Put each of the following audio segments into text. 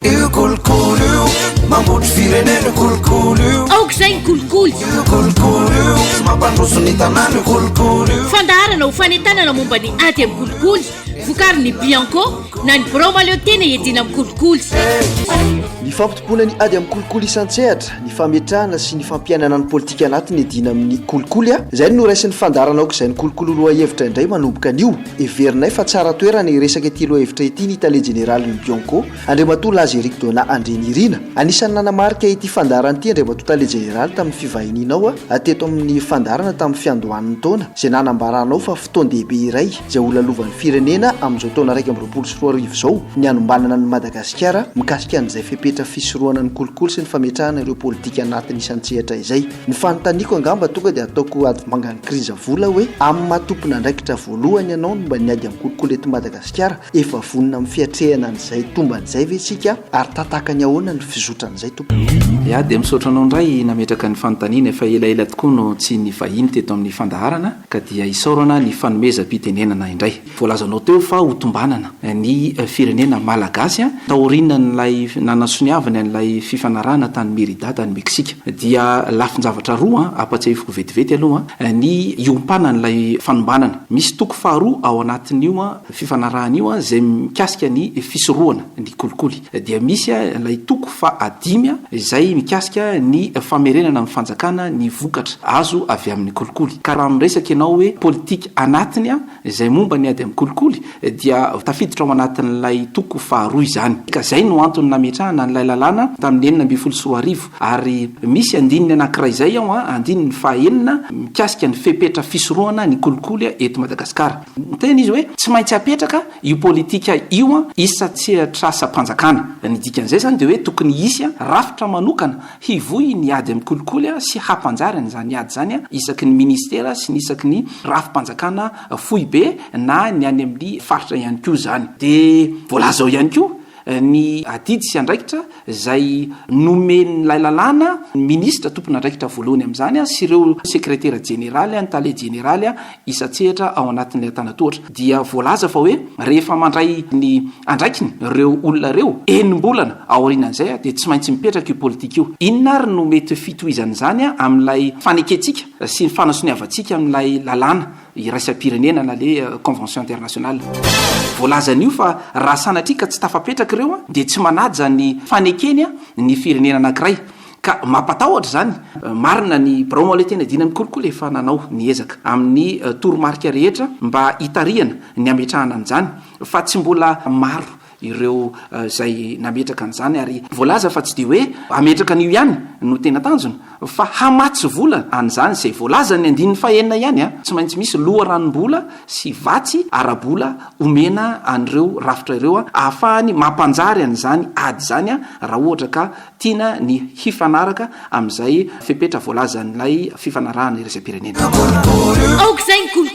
Io kolikoly io mampotry firenena io kolikoly io aoka izay ny kolikoly io kolikoly io tsy mampandroso ny tanàna io kolikoly io fandaharana ho fanentanana momba ny ady amin'ny kolikoly vokary ny bianco na ny birao maleo tena iadiana amin'ny kolikoly ny fampitomboana ny ady amin'ny kolikoly isan-tsehatra ny fametrahana sy ny fampiainana ny politika anatiny iadiana amin'ny kolikoly a izay no noraisin'ny fandaharana aoka izay ny kolikoly roa hevitra indray manomboka anio Heverinay fa tsara toerana hiresaka ity lohahevitra ity ny tale jeneralin'ny Bianco, Andriamatoa Laza Eric Donat Andrianirina. Anisan'ny nanamarika ity fandaharana ity Andriamatoa Tale Jeneraly tamin'ny fivahinianao teto amin'ny fandaharana tamin'ny fiandohan'ny taona izay nanambaranao fa fotoan-dehibe iray izay holalovan'ny firenena amin'izao taona iraika amby roapolo sy roa arivo izao ny hanombanana an'i Madagasikara mikasika an'izay fepetra fisorohana ny kolikoly sy ny fametrahana ireo politika anatin'ny isan-tsehatra izay Ny fanontaniako angamba tonga dia ataoko adivangan'ny kriza vola hoe, amin'ny maha tompon'andraikitra voalohany ianao momba ny ady amin'ny kolikoly eto Madagasikara, efa vonona amin'ny fiatrehana an'izay tombany izay ve isika ary tantakany ahoana ny fizotran'izay tompoko? Ya dia misaotra anao indray nametraka ny fanontaniana, efa elaela tokoa no tsy nivahiny teto amin'ny fandaharana ka dia isaorana ny fanomezam-pitenenana indray. Voalazanao teo fa ho tombanana ny firenena malagasy taorian'ilay nanasoniavany an'ilay fifanarahana tany Merida tany Meksika. Dia lafin-javatra roa ampatsiahiviko vetivety aloha ny iompanan'ilay fanombanana. Misy toko faharoa ao anatin'io fifanarahana io izay mikasika ny fisorohana ny kolikoly. Dia misy ilay toko fahadimy izay mikasika ny famerenana amin'ny fanjakana ny vokatra azo avy amin'ny kolikoly. Ka raha miresaka ianao hoe politika anatiny, Izay momba ny ady amin'ny kolikoly dia tafiditra ao anatin'ilay toko faharoa izany, ka izay no antony nametrahana an'ilay lalàna tamin'ny enina ambin'ny folo sy roa arivo, ary misy andininy anankiray izay ao, andininy fahaenina, mikasika ny fepetra fisorohana ny kolikoly eto Madagasikara. Niteny izy hoe tsy maintsy hapetraka io politika io isa-tsehatr'asam-panjakana. Ny dikan'izay izany dia hoe tokony hisy rafitra manokana Hivohy ny ady amin'ny kolikoly sy hampanjary an'izany ady izany isaky ny minisitera sy ny isaky ny rafi-panjakana foibe na ny any amin'ny faritra ihany koa izany. Dia voalaza ao ihany koa ny adidy sy andraikitra izay nomen'ilay lalàna ny minisitra tompon'andraikitra voalohany amin'izany sy ireo sekretera jeneraly, ny tale jeneraly isan-tsehatra ao anatin'ilay antanan-tohatra dia voalaza fa hoe rehefa mandray ny andraikiny ireo olona ireo, enim-bolana aorianan'izay dia tsy maintsy mipetraka io politika io. Inona ary no mety fitohizan'izany amin'ilay fanekentsika sy ny fanasoniavantsika amin'ilay lalàna iraisam-pirenena na le convention internationale? Voalazan'io fa raha sanatria ka tsy tafapetraka ireo dia tsy manaja ny fanekeny ny firenena anankiray. Ka mampatahotra izany. Marina ny birao Maolé tena idiana ny kolikoly efa nanao ny ezaka amin'ny toromarika rehetra mba hitarihana ny hametrahana an'izany fa tsy mbola maro ireo izay nametraka an'izany ary voalaza fa tsy dia hoe hametraka an'io ihany no tena tanjona fa hamatsy vola an'izany izay voalazan'ny andininy fahenina ihany a! tsy maintsy misy loharanom-bola sy vatsy ara-bola omena an'ireo rafitra ireo ahafahany mampanjary an'izany ady izany a! raha ohatra ka Tiana ny hifanaraka amin'izay fepetra voalazan'ilay fifanarahana iraisam-pirenena.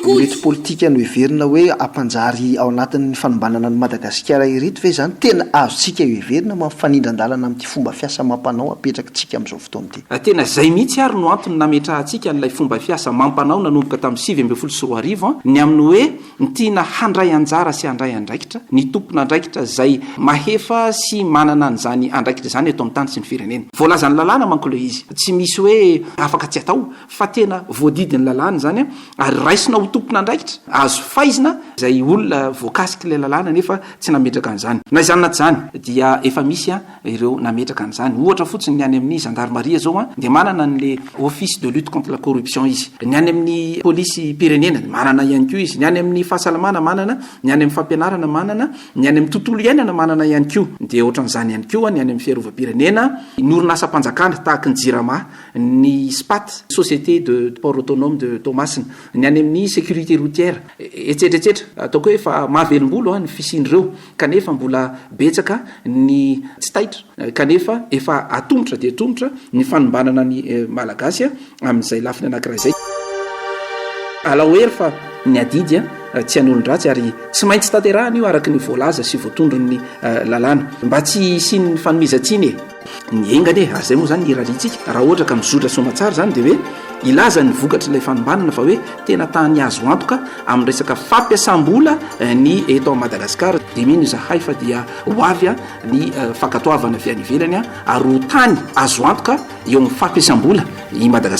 Ireto politika noheverina hoe hampanjary ao anatin'ny fanombanana an'i Madagasikara ireto ve izany tena azontsika heverina mba mifanindran-dalana amin'ity fomba fiasa amam-panao apetrakitsika amin'izao fotoana ity? Tena izay mihitsy ary no antony nametrahantsika an'ilay fomba fiasa amam-panao nanomboka tamin'ny sivy ambin'ny folo sy roa arivo, ny amin'ny hoe. Ny tiana handray anjara sy handray andraikitra, ny tompon'andraikitra izay mahefa sy manana an'izany andraikitra izany eto amin'ny tany sy ny firenena. Voalazan'ny lalàna manko ilay izy, tsy misy hoe afaka tsy atao fa tena voadidin'ny lalàna izany ary raisina ho tompon'andraikitra, azo faizina izay olona voakasik'ilay lalàna nefa tsy nametraka an'izany. Na izany na tsy izany dia efa misy ireo nametraka an'izany. Ohatra fotsiny ny any amin'ny zandarimaria zao an, dia manana ny le office de lutte contre la corruption izy. Ny any amin'ny polisim-pirenena manana ihany koa izy. Ny any amin'ny fahasalamana manana, ny any amin'ny fampianarana manana, ny any amin'ny tontolo iainana manana ihany koa. Dia ohatran'izany ihany koa ny any amin'ny fiarovam-pirenena, ny orinasam-panjakana tahaka ny Jirama, ny SPAT, Société de Port Autonome de Toamasina, ny any amin'ny sécurité routière, etsetra etsetra. Ataoko hoe efa mahavelom-bolo ny fisian'ireo. kanefa mbola betsaka ny tsy taitra, kanefa efa atomotra dia atomotra ny fanombanana ny Malagasy amin'izay lafiny anankiray izay. Alao hery fa ny adidy tsy an'olon-dratsy ary tsy maintsy tanterahana io araka ny voalaza sy voatondron'ny lalàna, mba tsy hisian'ny fanomezan-tsiny e! Ny enga anie, ary izay moa izany ny irariantsika, raha ohatra ka mizotra sy soamantsara izany dia hoe hilaza ny vokatr'ilay fanombanana fa hoe tena tany azo antoka amin'ny resaka fampiasam-bola ny eto amin'i Madagasikara. Dia mino izahay fa dia ho avy ny fankatoavana avy any ivelany ary ho tany azo antoka eo amin'ny fampiasam-bola i Madagasikara.